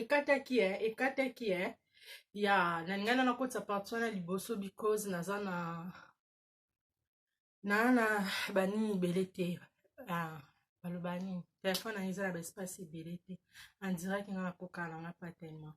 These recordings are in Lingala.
ekataki e ekataki e ya na ngai na nakotisa parti wana liboso because naza na na na banini ebele te ah, baloba nini telefone yango eza na baespace ebele te andiraki nga nakokana na nga pa tellement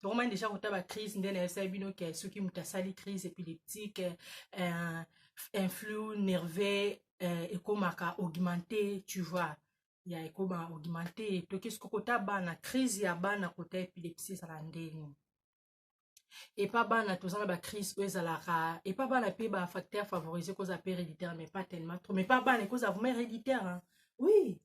tokomani deja kota bacrise nde nayebisaki bino ke soki moto asali crise épileptique euh, influx nerveux euh, ekomaka augmente tu vois ya ekoma augmente toki soki kota bana crise ya bana kota epilepsie ezala ndenge epa bana toza na bacrise oyo ezalaka epa bana mpe bafacteur favorise kozala mpe héréditaire mais pas tellement trop mais pa bana ekozala vraiment héréditaire hein? oui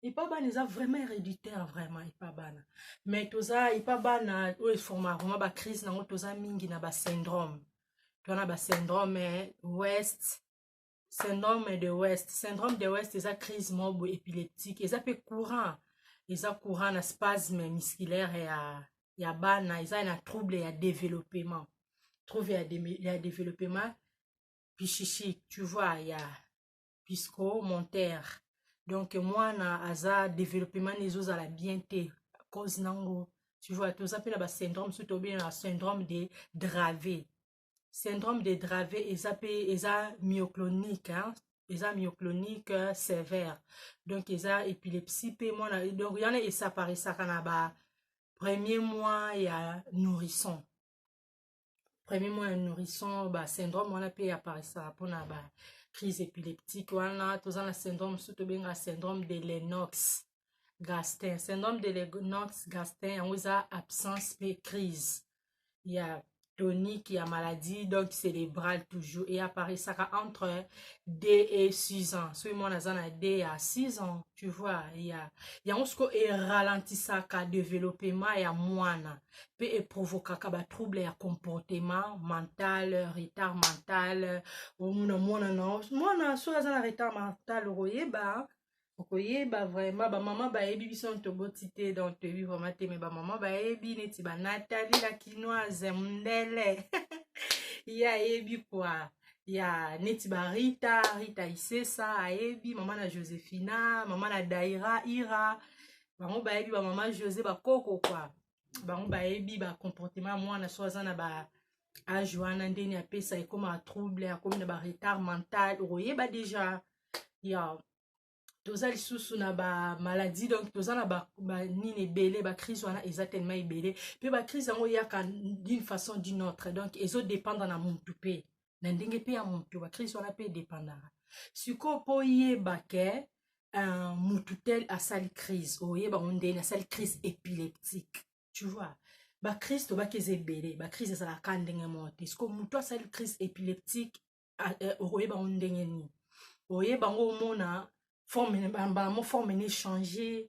epa bana eza vraiment héréditaire vraiment epa bana mais toza epa bana oyo eforma vraiment bacrise nango toza mingi na basyndrome toza na basyndrome eh, west syndrome de west syndrome de west eza crise moko boye épileptique eza mpe courant eza courant na spasme musculaire ya, ya bana eza na trouble ya développement trouble ya, de, ya développement psychique tu vois ya puisque monter donc mwana aza développement ezozala bien te cause nango tu vois toza mpe na basyndrome soki tobina na syndrome de drave syndrome de drave eza mpe eza myoclonique hein? eza myoclonique euh, sévère donc eza épilepsie mpe mwana donc yana esaparisaka na ba premier mois ya nourrisson premier mois ya nourrisson ba syndrome wana mpe eaparisaka mpona ba crise épileptique wana toza na syndrome mosusu tobenga syndrome de lenox gastin syndrome de lenox gastin yango eza absence mpe crise ya tonique ya maladie donc cérébrale toujours eaparisaka entre d et 6 ans soki mwana aza na d ya 6 ans tu vois ya yango siko eralentisaka développement ya mwana mpe eprovokaka batrouble ya comportement mental retard mental omona mwana na mwana soki aza na retard mental okoyeba okoyeba vraiment bamama bayebi biso toboti te donc toyebi vraiment te me bamama bayebi neti banatali la kinoise mundele ye ayebi kua ya neti barita rita isesa ayebi mama na josephina mama na daira ira bango bayebi bamama jose bakoko kwa bango bayebi bacomportement ya mwana so aza na ba age wana ndeni apesa ekoma trouble akomi na baretard mental okoyeba deja ya toza lisusu na bamaladie donc toza na banini ba ebele bacrise wana eza tellement ebele mpe bacrise yango eyaka d'une façon d'une autre donc ezodépendre na mutu mpe na ndenge mpe ya moto bakristo wana mpe edepandaka sikoyo mpo oyeba ke uh, motu tel asali crise oyeba ngo ndeni asali crise épileptique tu vois bakristo baki eza ebele bakristo ezalaka ka ndenge moko te sikoyo motu asali crise épileptique uh, uh, okoyeba ngo ndenge nini oyeba ngo omona forme bango forme na échange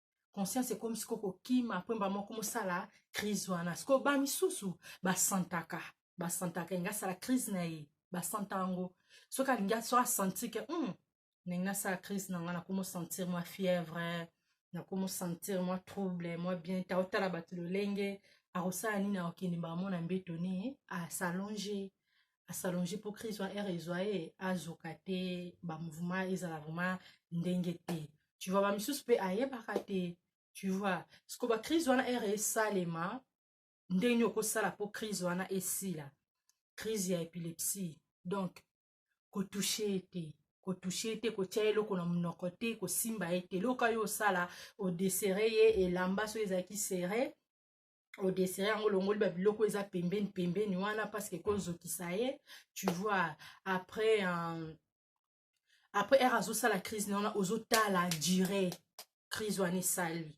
conscience ekomi siko kokima mpo mba moko mosala crise wana siko ba misusu basantaka basantaka elingi asala crise na ye basanta yango soki alingi so asanti ke hmm, ndenge nasala crise na ngai nakomosentir mwa fièvre nakomosentir mwa trouble mwa bien te aotala bato lolenge akosala nini akokende mbala mona mbeto ni asalonge asalonge mpo crise wana ere ezwa ye azoka te bamouvement ezala vraiment ndenge te tu vois bamisusu mpe ayebaka te tu vois siko bacrise wana ere esalema ndenge nini okosala mpo crise wana esila crise ya epilepsie donc kotouche ye te kotouche ye te kotya ye eloko na monoko te kosimba ye te eloko yo osala odesere ye elamba soki ezalaki sere odesere yango olongoli babiloko eza pembeni pembeni wana parceke ekozokisa ye tu vois après um, après ere azosala crise na wana ozotala dire crise wana esali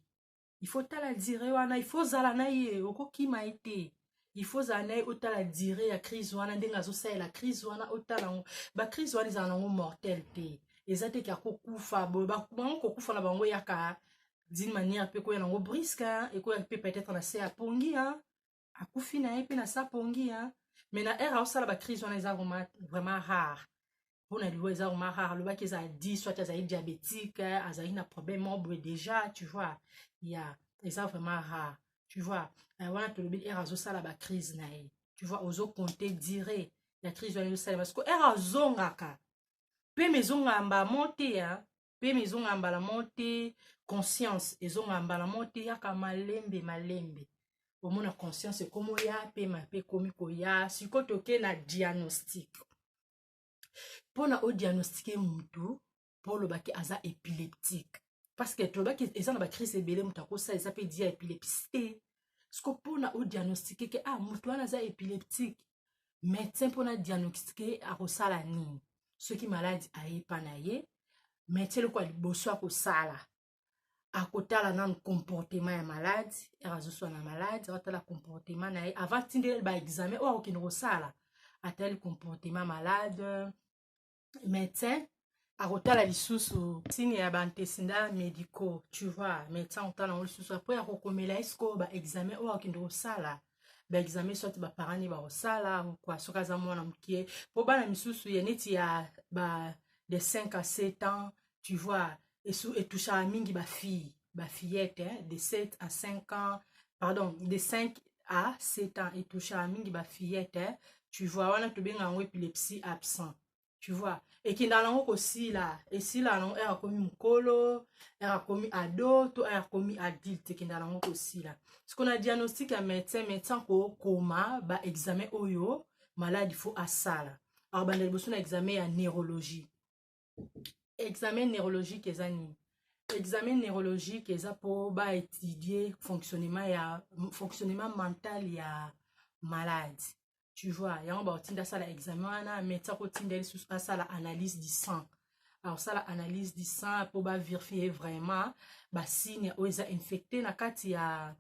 il faut tala dire wana il faut ozala na ye okokima ye te il faut ozala na ye otala dire ya crise wana ndenge azosalela crise wana otala yango bacrise wana ezala nango mortel te eza te ke akokufa boye bango kokufa na bango eyaka d'une manière pe koya nango briska hein, ekoya pe peut-être na se ya pongi hein. akufi na ye pe na sa pongi hein. mais na ere aosala bacrise wana eza vraiment vraiment rare mpo na liwa eza vraiment rare alobaki eza adi soit azali diabétique azali na problème moko boye déjà tu vois ya yeah. eza vraiment rare tu vois euh, wana tolobi ere azosala bacrise na ye tu vois ozo compte dire ya crise wana ezosalema siko ere azongaka mpe mezongaka mbamo te pema ezongaka mbala moko te conscience ezongaka mbala moko te yaka malembe malembe omona conscience ekomi oya pema mpe ekomi koya sikoyo toke na diagnostic mpona odiagnostike motu mpo olobaki aza epileptique parce que tolobaki eza na bacrise ebele moto akosala eza mpe dia epilepsie te siko mpona odiagnostike ke ah moto wana aza epileptique medecin mpona diagnostique akosala nini soki maladi ayepa na ye medecin eloko ya liboso akosala akotala nanu comportement ya malade ere azoswana malade akotala comportement na ye avant tindele baexamen oyo akokende kosala atali comportement malade médecin akotala lisusu signe ya baantesinda médicaux tu vois médecin akotala yango lisusu apres akokomela ye sikoyo baexamen oyo akende kosala baexamen soit baparent ne bakosala kua soki aza mwana moke mpo bana misusu ya neti ya ba de 5 à 7 ans tu vois etouchaka mingi bafille bafillette hein, de 7 à 5 ans pardon de 5 à 7 ans etouchaka mingi bafillette hein, tu vois wana tobenga yango epilepsie absent tu vois ekendaka nango kosila esila nango ere akomi mokolo ere akomi ado to ere akomi adulte ekendaka nango kosila siko na diagnostic ya médecin médecin kokoma baexamen oyo maladi fo asala akobanda liboso na examen ya neurologie examen neurologique eza nini examen neurologique eza mpo baétudie fonctionnement ya fonctionnement mental ya malade tu vois yango bakotinda asala examen wana médecin akotinda ye lisusu asala analyse du sang akosala analyse du sang mpo baverifie vraiment basigne oyo eza infecte na kati ya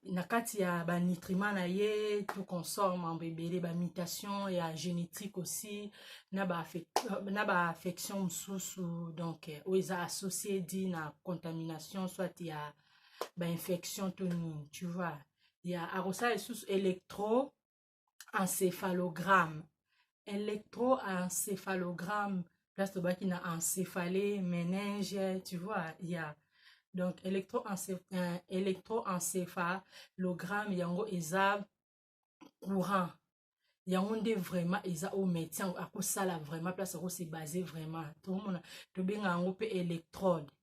na kati ya banitriment na ye tout consort mambo ebele bamutation ya génétique aussi na baaffection ba mosusu donc euh, oyo eza associe di na contamination soit ya bainfection to nini tu vois ya akosala lisusu électro encephalogramme électroencephalogramme place tobaki na encéphalée méninge tu vois ya yeah. donc euh, électroencéphalogramme euh, yango eza courant yango nde vraiment eza oyo médecin yango akosala vraiment place akose base vraiment tomona tobenga yango mpe électrode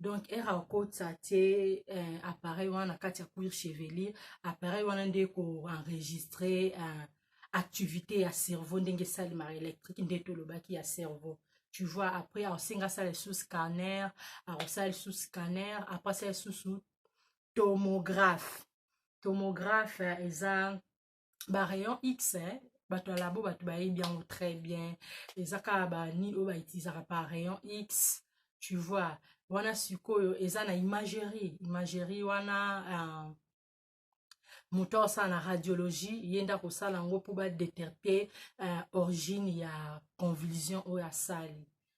donc ere akotisa tie eh, appareil wana na kati ya cuir chevelier appareil wana nde koenregistre eh, activité ya cerveau ndenge esalemaka électrique nde tolobaki ya cerveau tu vois après akosenga asala lisusu scanner akosala lisusu scanner après asala lisusu tomographe tomographe eh, eza ba rayon x eh, bato ya labo bato bayebi yango très bien eza kaka banini oyo bautilisaka par rayon x tu vois wana sikoyo eza na imagerie imagerie wana uh, moto aosala na radiologie ye nde akosala yango mpo badeterte uh, origine ya convulsion oyo asali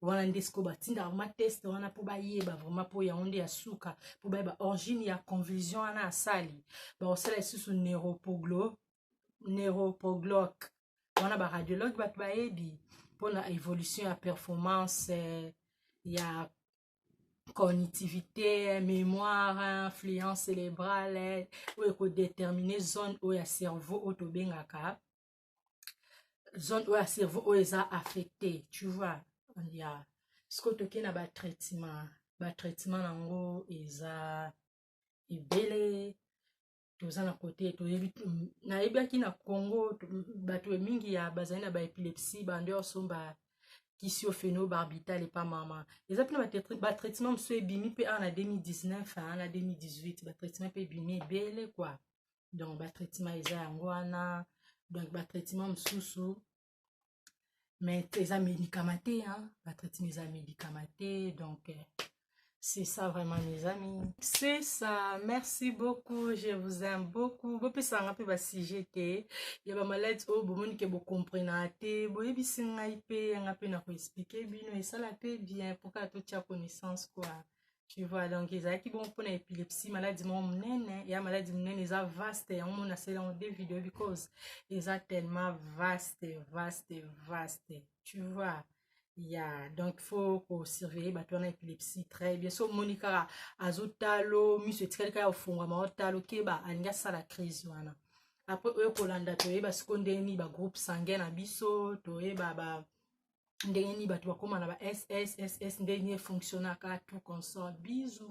wana nde sikoyo batindaka vrma teste wana mpo bayeba vraimen mpo yango nde ya suka mpo bayeba origine ya convulsion wana asali bakosala lisusu neuropoglo neuropogloc wana baradiologue bato bayebi mpo na évolution ya performance eh, ya cognitivité mémoire influence cérébrale oyo ekodetermine zone oyo ya cerveau oyo tobengaka zone oyo ya cerveau oyo eza affecté tu vois ya siko toke na batraitement batraitement yango eza ebele toza na kote toyebi nayebaki na congo bato mingi ya bazali na baepilepsie bando ya osomba kisi oyo feno barbital epa mama eza mpe na batraitement mosusu ebimi mpe awa na 2019 na 2018 batraitement mpe ebimi ebele kua donc batraitement eza yango wana donc batraitement mosusu mais eza médicament te batraitement eza médicament te donc eh, C'est ça vraiment mes amis. C'est ça. Merci beaucoup. Je vous aime beaucoup. Bo pesa nga pe ba sujet te. Ya ba malade o oh, bo moni ke bo comprena te. Bo yebi singa ipe nga pe na ko expliquer bino et ça la pe bien pour ka to tia connaissance quoi. tu vois donc ezalaki bongo mpona epilepsie maladi moko monene ya maladi monene eza vaste yango mona asali yango de video because eza tellement vaste vaste vaste tu vois ya donc faut kosurveille bato wana epilepsie très bien so omoni kaka azotalo miso etikali kaka ofungwama otalo keba alingi asala crise wana apres oyo kolanda toyeba siko ndeni bagroupe sanguin na biso toyeba ba, ba ndenge nini bato bakoma na ba sss ndenge nini efonctionnaka tout console bisou